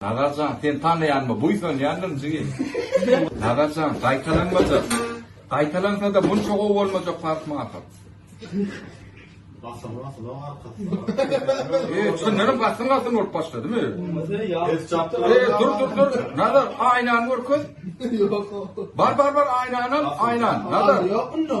Nazar jan sen tanaýanma buýsanýandyň jigim. Nazar jan gaýtalanmajak. Gaýtalansada munça gowy bolmajak parfym ahyr. Basym basym arkasy. Eee çyndanam basym basym bolup başladymy? Eee dur dur dur. Nazar aýnany görkez. Bar bar bar aýnanam aýnan. Nazar. Ýokmy no?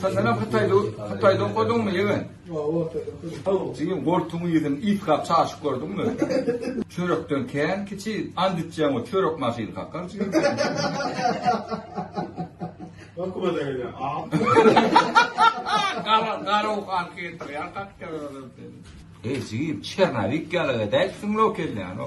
Sen menem hytaýda hytaýda okadyňmy ýegen? Hawa okadyň. Jigim goltugyň ýüzüni iýkap çaşyp gördüňmi? Çörekden kän kiçi and içýäň we çörek maşyny kakar jigim. Okuwa da gelýär. Gara gara okan ketdi ýa kakar ölen seni. Eý jigim Çernawik ýaly edäýipsiň lokelýany.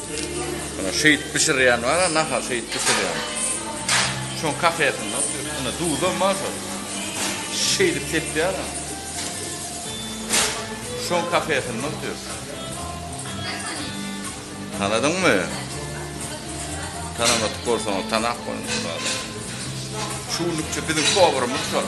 Muna şeýit bişirýän bar, nahar şeýit bişirýän. Şoň kafesinde otyr. Muna duzam bar şol. Şeýdip tepýär. Şoň kafesinde otyr. Tanadyňmy? Tanamat bolsaň, tanap bolun. Şu günlükçe biziň powerimiz şol.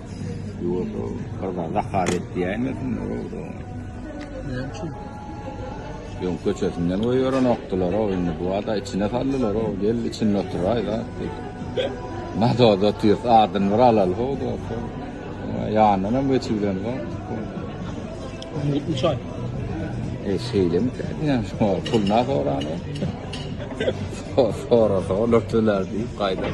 Ýuwaşow gyza zakaz et diýäýmesin owda. Näme üçin? Ýoň köçesinden goýberenokdylar-ow, indi bu bada içine saldylar-ow, gel içinde oturaý zat diýip. Mazoda otyrys, adyny bir alaly how dostum. Ýanyndan hem geçibilen zat. Mutlu çaý. E şeýlemi käýýän şu pul na sorany. Sorasa olar töler diýip gaýdar.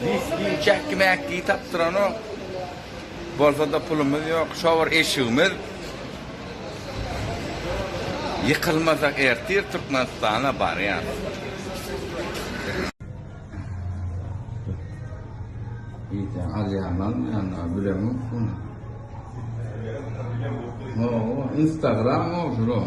Diýip jäkki-mäkki tapdyranok. Bolsa-da pulumyz ýok. Şo bir eşigimiz ýykylmasa ertir Türkmenistana barýarys. Diýseň alýarmy almaýarmy bilemok muny. Instagram-ow şular.